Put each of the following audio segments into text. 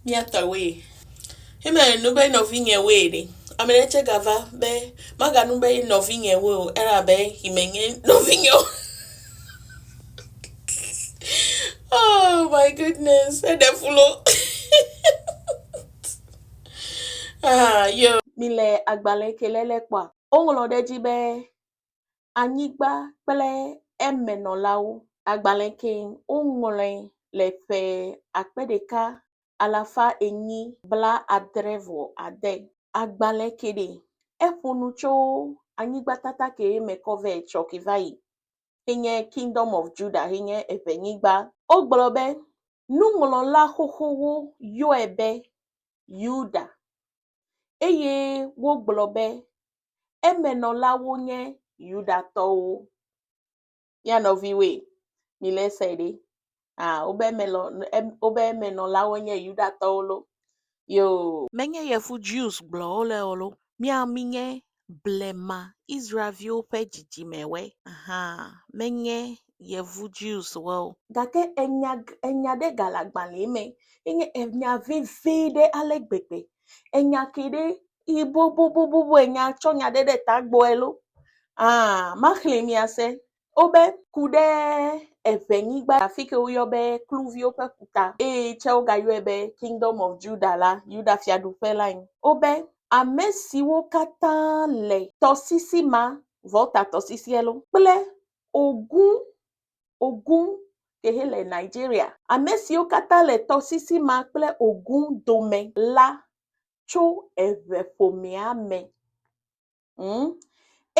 Mía tɔwoe. Hime nu be nɔvinyewoe ɖe, ame ɖe tsɛ gava be, maganu be nɔvinyewoe o elabe yi menye nɔvinye o. Oh my goodness, eɖe fu lo. Ah, yo. Mile agbalẽ ke lé lé kpɔa, woŋlɔ ɖe edzi be anyigba kple eme nɔlawo. Agbalẽ ke woŋlɔe le ƒe akpe ɖeka alafa enyi bla adre vɔ ade. Agbalẽ ke ɖe eƒo nu tso anyigba tata ke me kɔ vɛ tsɔ ke va yi ke nye Kingdom of Judah he nye eƒe nyigba. Wogblɔ be nuŋlɔla xoxowo yɔe be Yuda eye wogblɔ be, Eme nɔlawo nye Yudatɔwo. Mía nɔviwoe, mile esee ɖe. Ah, wobe eme lɔ, em, wobe eme nɔlawo nye Yudatɔwo lo. Yoo. Menye yevu Jews gblɔ wole o lo, mía, mínye Blema Israel-viwo ƒe dzidzimewoe hã menye Yevu Jews-woe o. Gake enya, enya ɖe gale agbalẽa me ye nye enya vevie ɖe ale gbegbe. Enya ke ɖe yi boboboboboe nya tsɔ nya ɖe ɖe ta gbɔe loo, aa, maxlẽe mí ase. Wobe, Ku ɖe eŋenyigba afi ke woyɔ be Kluviwo ƒe Ƒuta, eye tsɛ wogayɔe be Kingdom of Judah la, Yuda-Fiaɖuƒe lae. Wobe, Ame siwo katã le tɔsisi ma, Volta-tɔsisiɛ loo, kple Ogun, Ogun ke he le Nigeria, ame siwo katã le tɔsisi ma kple Ogun dome la tso eŋeƒomea me. ŋu,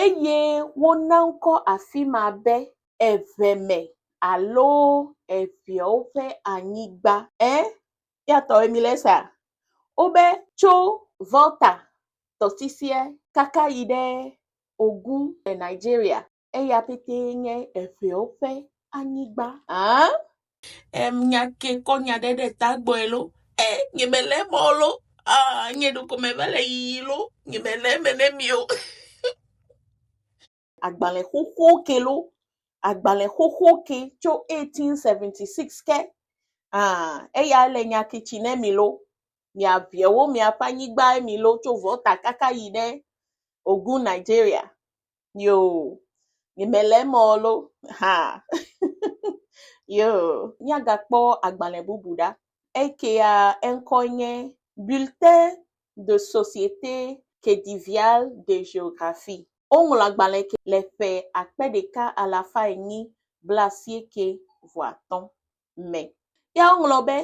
eye wona ŋkɔ afi ma be Eʋeme alo Eʋeawo ƒe Anyigba. Ẽ, míatɔwoe mílé sea? Wobe tso Volta tɔsisia kaka yi ɖe Ogun le Nigeria. Eya petee nye eƒewo ƒe anyigba. Aa. Em nya ke kɔ nya ɖe ɖe ta gbɔe lo. E nye me le mɔ lo. Aa nye ɖoko me va le yiyi lo. Nye me le me ne mi o. Agbalẽ xoxo ke lo. Agbalẽ xoxo ke tso 1876 ke. Aa eya le nya ke tsi ne mi lo. Mia viewo mia ƒe anyigba mi lo tso vɔta kaka yi ne Ogun Nigeria. Yoo, nyemele eme o lo, ha! Yoo, míagakpɔ agbalẽ bubu ɖa. Ekea eŋkɔe nye Bulletin de Société Khedivial de Géographie. Woŋlɔ agbalẽ ke le ƒe akpe ɖeka alafa enyi blaasieke vɔ atɔ̃ me. Ya woŋlɔ be,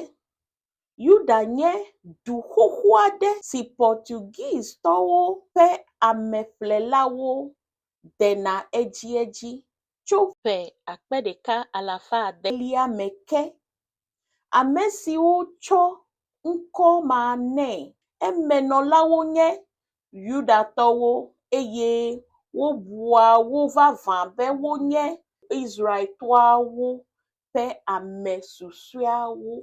Yuda nye du xoxo aɖe si Portuguese-tɔwo ƒe ameƒlelawo dena edziedzi tso ƒe akpe ɖeka alafa ade elia me ke. Ame siwo tsɔ ŋkɔ ma nɛ emenɔlawo nye Yudatɔwo eye wobua wo vavã be wonye Israel-toawo ƒe ame susɔeawo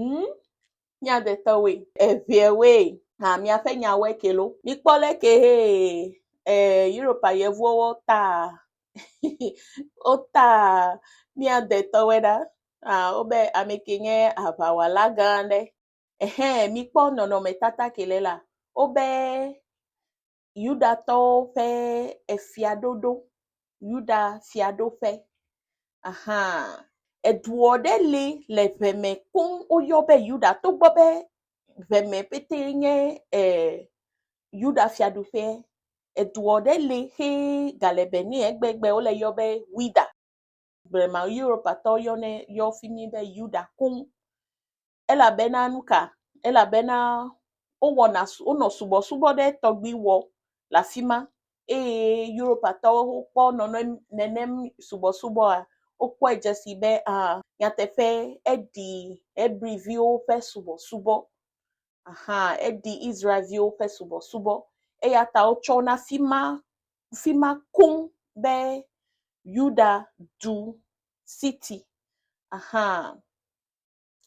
ŋu míadetɔwoe. Eveawoe hã míaƒe nyawoe ke lo. Mikpɔ le ke he e Europa yevuwo taa wotaa míadetɔwoe ɖa. Ah wobe ame ke nye aŋawɔla gã aɖe. Ehe mikpɔ nɔnɔmetata ke le la. Wobe Yudatɔwo ƒe efiaɖoɖo, Yuda fiaɖoƒe. Ahaa, eduɔ ɖe li le ŋe me koŋ woyɔ be Yuda togbɔ be ŋe me ƒetee nye e Yuda fiaɖuƒee. Eduɔ ɖe li xe gale be ne egbe gbe wole yɔ be Wida. Blema Europatɔwo yɔnɛ yɔ fi mi be Yuda koŋ. Elabena nuka? Elabena wowɔna su wonɔ subɔsubɔ ɖe tɔgbi wɔ le afi ma eye Europatɔwo kpɔ nɔnɔ nenem subɔsubɔa wokpɔe dze si be a nyateƒe eɖi Hebriviwo ƒe subɔsubɔ aha eɖi Israelviwo ƒe subɔsubɔ eya ta wotsɔ na fi ma fi ma koŋ be Yuda du siti aha.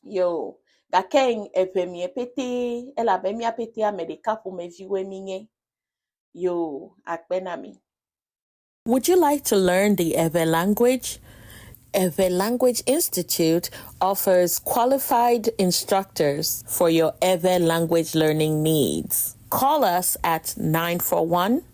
ye o, gake eŋe mìe pɛtɛ elabe mía pɛtɛ ame ɖeka ƒomeviwoe mínye. Yoo, akpe na mi. Would you like to learn the Ewe language? Ewe Language Institute offers qualified instructors for your Ewe language learning needs. Call us at 941